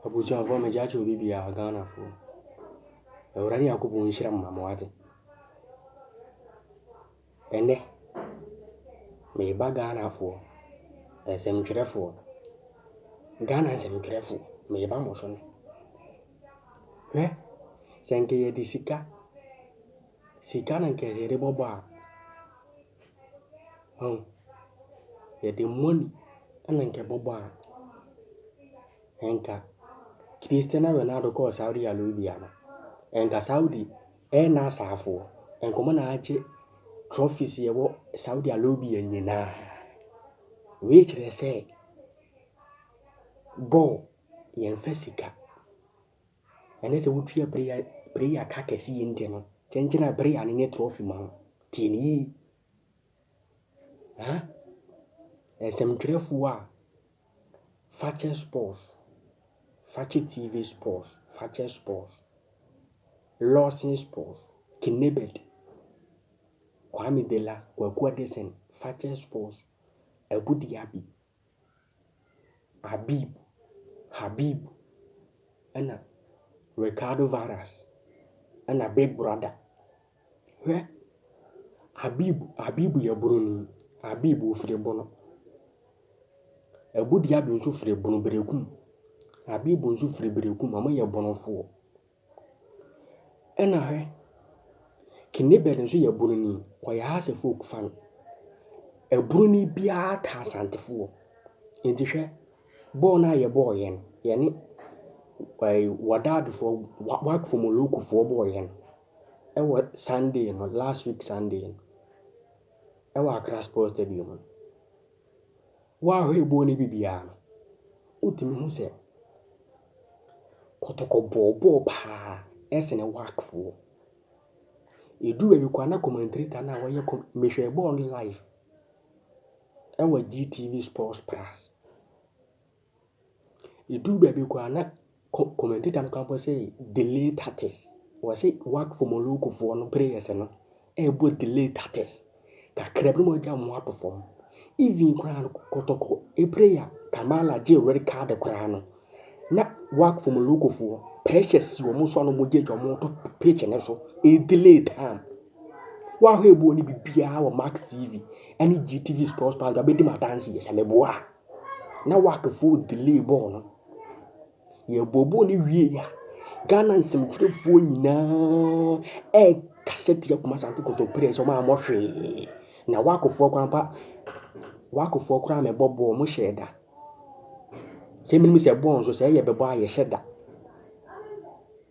Abusuafoɔ megye akyɛ obi biara Ghanafoɔ Awurade Nyankopɔn nhyira mo ma mo wate Ɛnɛ meba Ghanafoɔ nsɛmtwerɛfoɔ Ghana nsɛmtwerɛfoɔ meba mo so nnɛ Hwɛ sɛ nka yɛde sika sika na nka yɛde bɔbɔ a, wahu, yɛde money na nka ɛbɔbɔ a, nka Christiano Ronaldo kɔɔ Saudi Arabia no, nka Saudi ɛna asaafoɔ, nka wɔn na agye trophies yɛwɔ Saudi Arabia nyinaa. Wei kyerɛ sɛ bɔɔl yɛmfa sika Ɛnnɛ sɛ wotua prayer prayer ka kɛse yi nti no, kyenkyena prayer no nye trophy ma wo. Tie no yiye. Huh? Nsɛmtwerɛfoɔ a, fakyɛ sports, fakyɛ TV sports, fakyɛ sports, Lawson sports, Kinebet, Kwame Dela, Kwaku Adesɛn, fakyɛ sports, Abu Diaby, Habib, Habib, ɛna Ricardo Varas, ɛna Big Brother. Hwɛ, Habib, Habib yɛ Buroni. Habib ofiri Bono. Abu Dhabi nso firi Bono, Berekum. Habib nso firi Berekum, wɔyɛ Bonofoɔ. Nna hwɛ, Kinniebird nso yɛ bununi, ɔyɛ Hausa folk fan. Bununi biara taa Asantefoɔ. Nti hwɛ, bɔɔl no a yɛbɔɔeɛ no, yɛne ɛɛ Wadaadofoɔ, Wa Wakfo Molokofoɔ bɔɔeɛ no wɔ Sunday no, last week Sunday no, wɔ Accra Sports Stadium no. Wo ahwɛyiboɔ no bi biara no, wotumi hu sɛ kɔtɔkɔ bɔɔbɔɔ paa sene wakfoɔ. Ɛduru baabi koraa na kɔmantri ta no a wɔyɛ kɔm mehwɛɛ bɔɔl no live wɔ GTV Sports Plus. Edu baabi koraa na commentator no koraa bɔ sɛ delay tactics. Wɔse wak for Morocco foɔ no prayers no ɛbɔ delay tactics. Kakra bi na wɔagya wɔn ato fam. Even koraa no kɔtɔkɔ prayer Kamala gye red card koraa no na wak for Morocco foɔ pressure si wɔn so a na wɔgye agya wɔn to pitch no so ɛdelay time. Woahwɛ ɛboɔ no biribiara wɔ Max TV ɛne GTV Sports Pass do abɛdi mu adanseɛ sɛ meboa a. na wak foɔ delay bɔɔl no yɛ bɔɔ bɔɔl no wie ya ghana nsɛmtwerɛfoɔ nyinaa ɛkasa tia kuma sante kɔtɔ players ɔmo a mɔhwee na wak foɔ kwan pa wak foɔ koraa mɛbɔ bɔɔl mo hyɛ da sɛ menim sɛ bɔɔl nso sɛ ɛyɛ bɛbɔ a yɛhyɛ da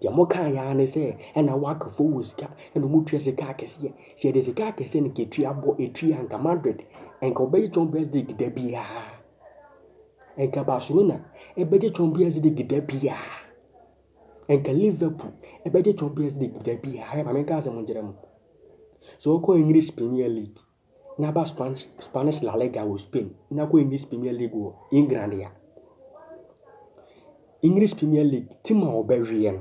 Deɛ mokaeɛ ara ne sɛ ɛna Wakfoɔ wɔ sika ɛna wɔtua sika akɛseɛ. Sɛ yɛde sika akɛseɛ no kɛtua bɔ ɛtua anka Madrid ɛnka wɔbɛgye Champions League da biara. Ɛnka Barcelona ɛbɛgye Champions League da biara. Ɛnka Liverpool ɛbɛgye Champions League da biara. Ɛma menka asɛm nkyerɛ mo. Sɛ wɔkɔ English Premier League na aba Spanish La Liga wɔ Spain na akɔ English Premier League wɔ England a, English Premier League tim a ɔbɛweɛ no,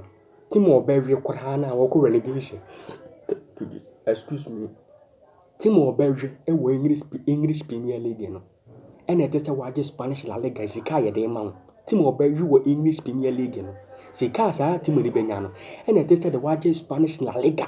tim a ɔbɛweɛ koraa no a wɔkɔ relegation, excuse me, tim a ɔbɛweɛ wɔ English English Premier League no, ɛna ɛte sɛ wagye Spanish La Liga sika a yɛde ma wo. Tim a ɔbɛwe wɔ English Premier League no, sika a saa tim no bɛnya no, ɛna ɛte sɛ de wagye Spanish La Liga.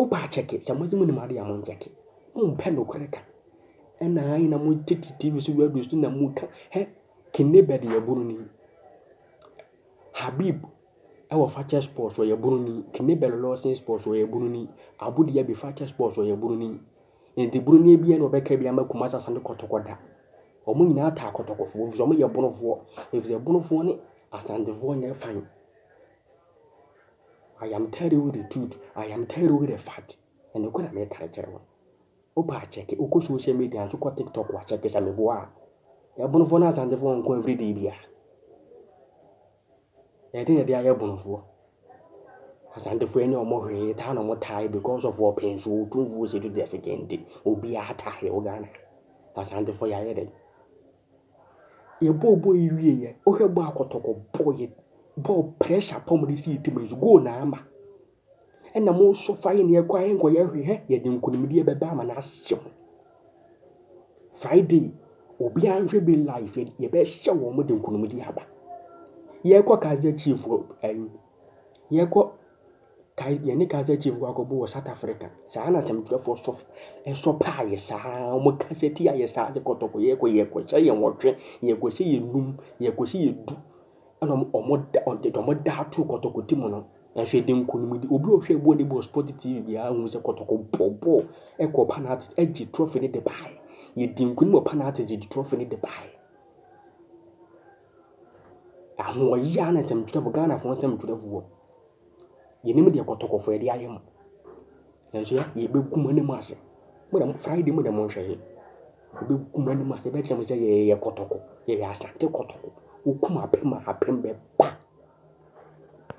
Opa akyɛke, sɛ modze munnum ade a monnkyɛke. Mommpɛ nokwar kã. Nna ae na motsetse TV so radio so na mukã, hɛ, Kinebert yɛ Boroni. Habib wɔ Fakyɛ Sports ɔyɛ Boroni, Kinebert Lawson Sports ɔyɛ Boroni, Abu Diaby Fakyɛ Sports ɔyɛ Boroni. Ntsi Boroni ebien na wɔbɛkra bi ama Kumasi Asante Kɔtɔkɔ da. Wɔn nyinaa taa Kɔtɔkɔfoɔ efisɛ wɔn yɛ Bonofoɔ efisɛ Bonofoɔ ne Asantefoɔ nyɛ fan. I am telling you the truth, I am telling you the fact, ɛnokorɛ na mekare kyerɛ wo. Wopɛ a kyɛke, wokɔ social media nso kɔ tiktok a kyɛke sɛ meboa a. Ɛbonofoɔ ne Asantefoɔ nko every day biara. Ɛde na ɛde ayɛ bonofoɔ. Asantefoɔ ɛnyɛ ɔmo hwee, taa na ɔmo taa because of ɔpɛn so otumfuo sɛ to the second, obiara taa yɛ wɔ Ghana. Asantefoɔ yɛayɛ dɛ. Yɛbɔɔ bɔɔl yi wieeɛ, wohwɛ bɔɔl a kɔtɔkɔ bɔɔ yɛ bɔɔl pressure paa wɔde si yɛ team ani so, goal na ama. Ɛna mo nso fa yɛ na yɛkɔ a yɛnkɔyɛ hwee hɛ, yɛde nkunimdie bɛba ama no ahyɛ mo. Friday, obiara nhwɛ bi live, yɛbɛhyɛ wɔn de nkunimdie aba. Yɛkɔ Kaizer Chiefs wɔ ɛyi. Yɛkɔ Kais yɛne Kaizer Chiefs kɔ akɔbɔ wɔ South Africa. Saa na asɛmtwerɛfoɔ sɔ ɛsɔ paa yɛ saa. Wɔn kasa tia yɛ saa de kɔtɔkɔ yɛkɔ yɛkɔhyɛ yɛ nwɔtwe yɛkɔhyɛ yɛ num yɛkɔhyɛ yɛ du ɛna wɔn wɔn da wɔde deɛ wɔn da ato kɔtɔkɔ ti mu no nanso yɛde nkunimdi obi a ɔhwɛ bɔɔl ne bɔ sport tv biara hu sɛ kɔtɔkɔ bɔ bɔɔl ɛkɔ penalty ɛgye trophy ne de baeɛ yɛdi nkunim wɔ penalty yɛde trophy ne de baeɛ. Ahoɔyaa ne nsɛmtwerɛfoɔ, Ghanafoɔ nsɛmtwerɛfoɔ, yɛnim deɛ kɔtɔkɔfoɔ de ayɛ mo. Nanso yɛ yɛbɛgu mo anim ase. Mo deɛ Friday mo deɛ monhwɛ yɛ. Yɛbɛgu mo anim ase, yɛbɛkyerɛ mo sɛ yɛyɛ kɔtɔkɔ, yɛyɛ Asante kɔtɔkɔ. Wokum apem a, apem bɛba.